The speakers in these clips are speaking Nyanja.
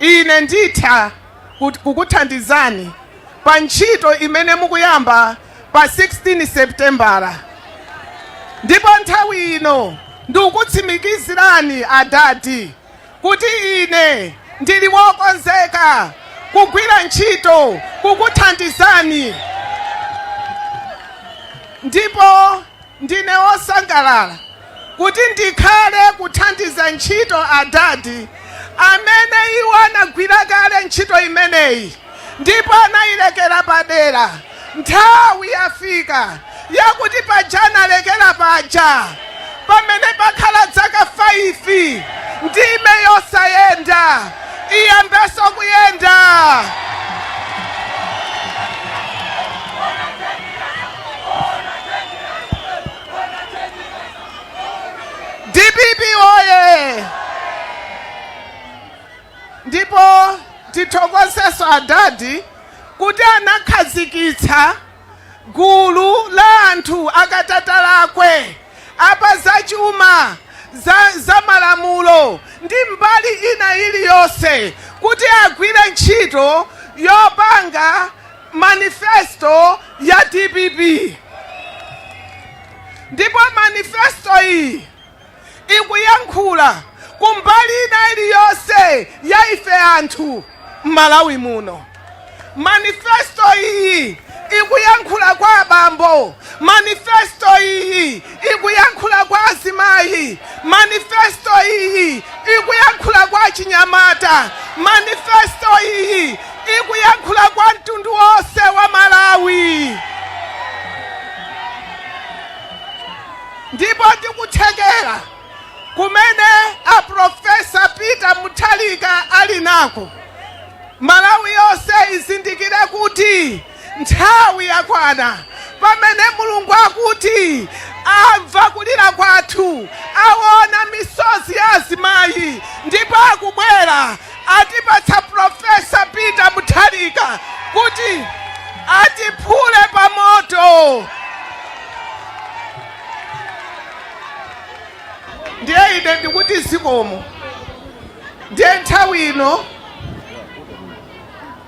Ine nditha kukuthandizani pa ntchito imene mukuyamba pa 16 Seputembala ndipo nthawi ino ndikukutsimikizirani adadi kuti ine ndili wokonzeka kugwira ntchito kukuthandizani ndipo. Ndine wosangalala kuti ndikhale kuthandiza ntchito Adadi, amene iwo anagwira kale ntchito imeneyi ndipo anayilekera padera. Nthawi yafika yakuti paja analekera paja, pamene pakhala dzaka 5 ndime isayenda iyambenso kuyenda. DPP oye ndipo tithokozenso adadi kuti anakhazikitsa gulu la anthu akatakwe a pa zachuma za, za malamulo ndi mbali ina iliyonse kuti agwire ntchito yopanga manifesto ya DPP ndipo manifesto iyi ikuyankhula kumbali ina iliyonse ya ife anthu m'malawi muno manifesto iyi ikuyankhula kwa abambo manifesto iyi ikuyankhula kwa azimayi, manifesto iyi ikuyankhula kwa achinyamata, manifesto iyi ikuyankhula kwa mtundu wonse wa Malawi. ndipo ndi kuthekera kumene a Profesa Peter Mutharika ali nako Malawi yonse izindikire kuti Nthawi yakwana pamene Mulungu akuti wamva kulira kwathu, awona misozi ya azimayi ndipo akubwera atipatsa Prof. Peter Mutharika kuti atiphule pamoto. Ndiye ine ndikuti zikomo. Ndiye nthawi ino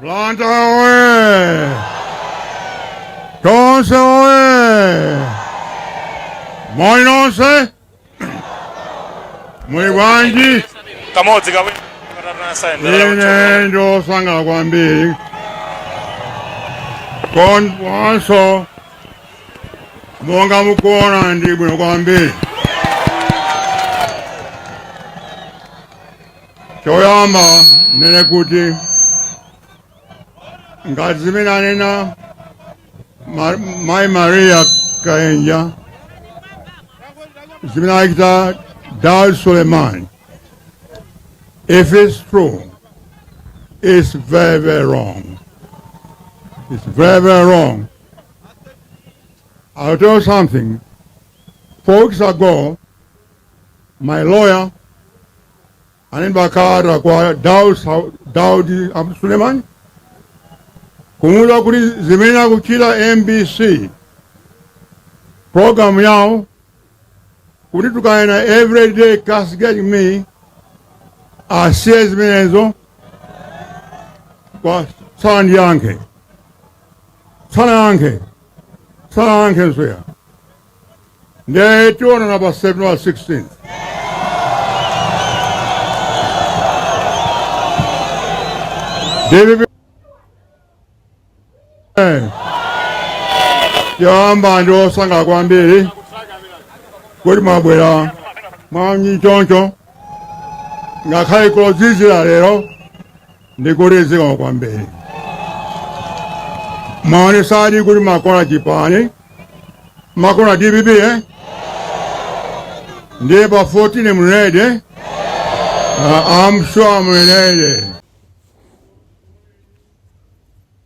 Blantyre oye! Tonse oye! Moni nonse! Muli bwanji? kamodzi kawiri katatu nasayendera Ine ndasangala kwambiri kuonanso monga mukuona ndi bwino kwambiri Choyamba nene kuti ngati zimene anena Ma- Mai Maria Kaenja zimene achita Dar Suleiman if it's true it's very very wrong it's very very wrong I'll tell you something four weeks ago my lawyer alemba kalata kwa Daud, Daud Abdul Suleiman kumuuza kuti zimene akuchita MBC program yao kuti tukayena everyday kasgeti me asiye zimenezo koma sanandiyankhe sanayankhe sanayankhe nsoya ndiye tionana pa 7 wa 16 dpp yamba ndiwosangalala kwambiri kuti mwabwera mwaunyinji choncho ngakhale kukuzizira lero ndikuthokoza kwambiri mwaonesadi kuti mumakonda chipani mumakonda dpp eh? ndiye pa 14 mlede uh, I'm sure mlede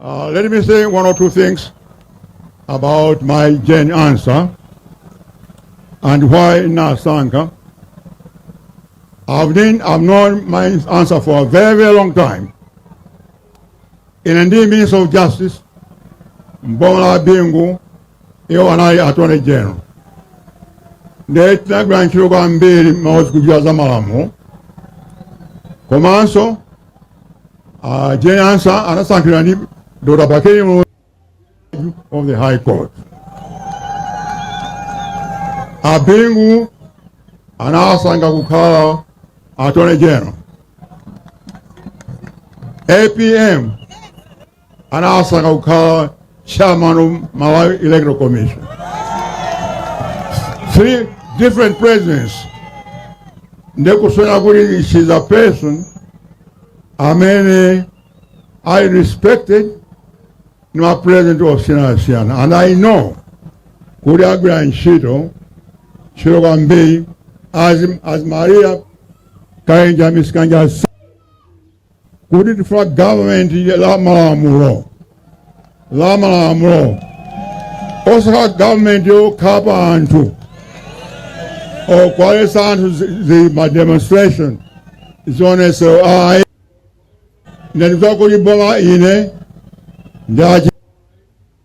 Uh, let me say one or two things about mayi Jane Ansah and why nasankha. I've been, I've known mayi Ansah for a very, very long time. In indeed Ministry of Justice, m'boma la Bingu, iwo anali attorney general. Ndiye tinagwira ntchito kwambiri mawuzi kuchita za malamulo. Komanso Uh, Jane Ansah anasankhidwa ndi Dr. Bakili Muluzi of the High Court. A Bingu anawasankha kukhala Attorney General. APM anawasankha kukhala chairman of malawi electoral commission three different presidents ndikusonyeza kuti she is a person amene ali respected ndi ma president osiyanasiyana and i know kuti agwira ntchito ntchito kwambiri as, as mayi akayendetsa zisankho kuti tifuna government la malamulo la malamulo osati government yokhapa anthu yowaletsa anthu zi- zi- ma demonstration zionesero ayi ndandikuta kuti boma ine ndachi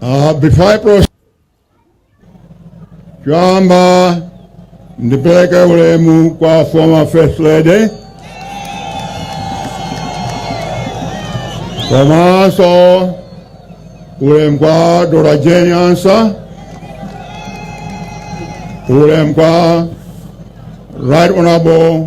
Uh, before I proceed, choyamba ndipeleke ulemu kwa former first lady komanso ulemu kwa Doctor Jane Ansah ulemu kwa Right Honorable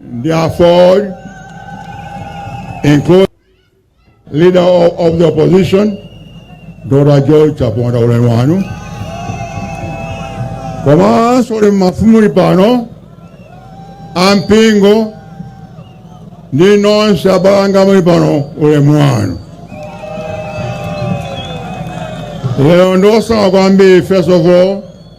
The former, incoming leader of, of the opposition, Doctor George Chaponda Ulemwanu. Komanso mafumu muli pano ampingo ndi nonse abale anga muli pano ulemwanu. Lero ndosangalala kwambiri first of all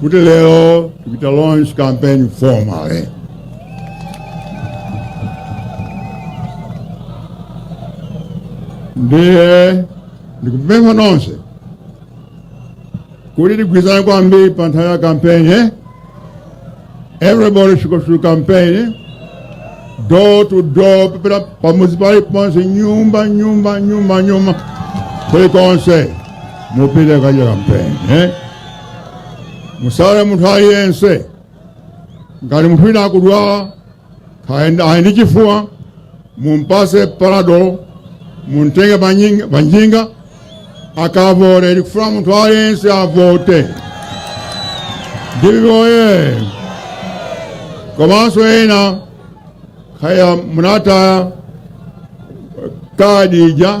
kuti lero tikuchita launch campaign formally ndiye ndikupempha nonse kuti tigwirizane kwambiri pa nthawi ya kampeni eh? Everybody should go to campaign, door to door, people, pamuzi pali ponse, nyumba, nyumba, nyumba, nyumba, kuli konse, mupite kukachita campaign, eh? Musale munthu aliyense, ngati munthu wina akudwala, ali ndi chifuwa mumpase panado muntenge panyinga- panjinga akavote tikufuna munthu aliyense avote ndithu eh komanso ena kaya munataya kadi ija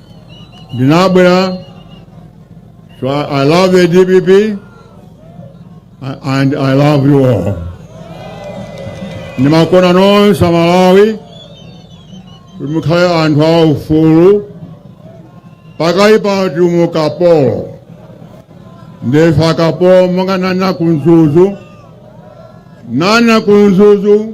ndinabwera so I, I love the dpp and I love you all ndimakonda nonse amalawi kuti mukhale anthu a ufulu chifukwa pano tili mu ukapolo ndife akapolo monga ndinanena ku Mzuzu ndinanena ku Mzuzu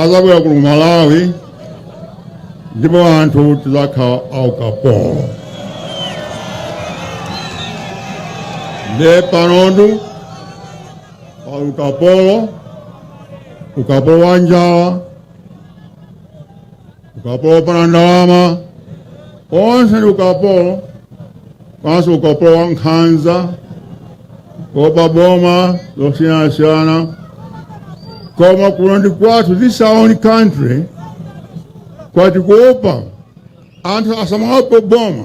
azabwera kuno ku malawi ndipo anthu tizakhala aukapolo nde pano ndi ukapolo ukapolo wa njala ukapolo wopanda ndalama onse ndi ukapolo komanso ukapolo wa nkhanza kuopa boma zosiyanasiyana koma kuno ndi kwathu this is our own country koma tikuopa anthu asamaope boma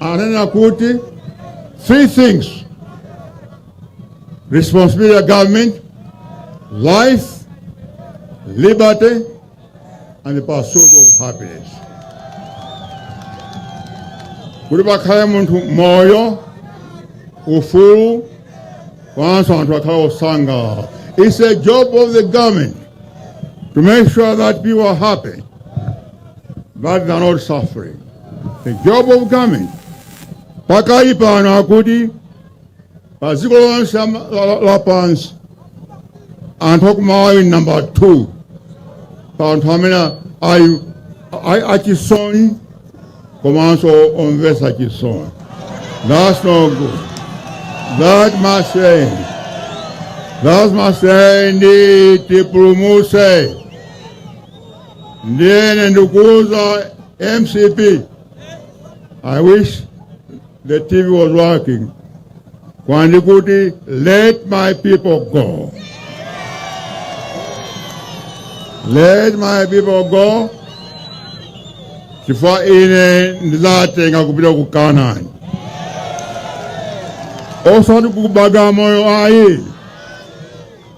ananena kuti three things responsibility of government life liberty and the pursuit of happiness kuti pakhale munthu moyo ufulu komanso anthu akhale osangalala it's a job of the government to make sure that people are happy but they are not suffering. The job of government pakali pano akuti pa dziko lonse la- la- lapansi anthu aku Malawi ndi namba 2 pa anthu amene ali achisoni komanso omvesa chisoni that's no good that must end that must end tipulumuse Ndiye ine ndikuuza MCP. I wish the TV was working. Kuti ndikuti let my people go. Let my people go. Chifukwa ine ndizawatenga kupita ku Kanani. Osati ku Bagamoyo ayi.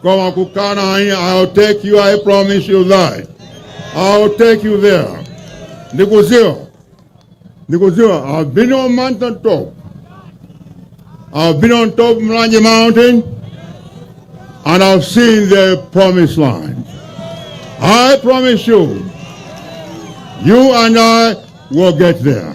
koma kukana ayi I'll take you I promise you that I'll take you there ndikuziwa ndikuziwa I've been on mountain top I've been on top of Mlanje mountain and I've seen the promised land I promise you you and I will get there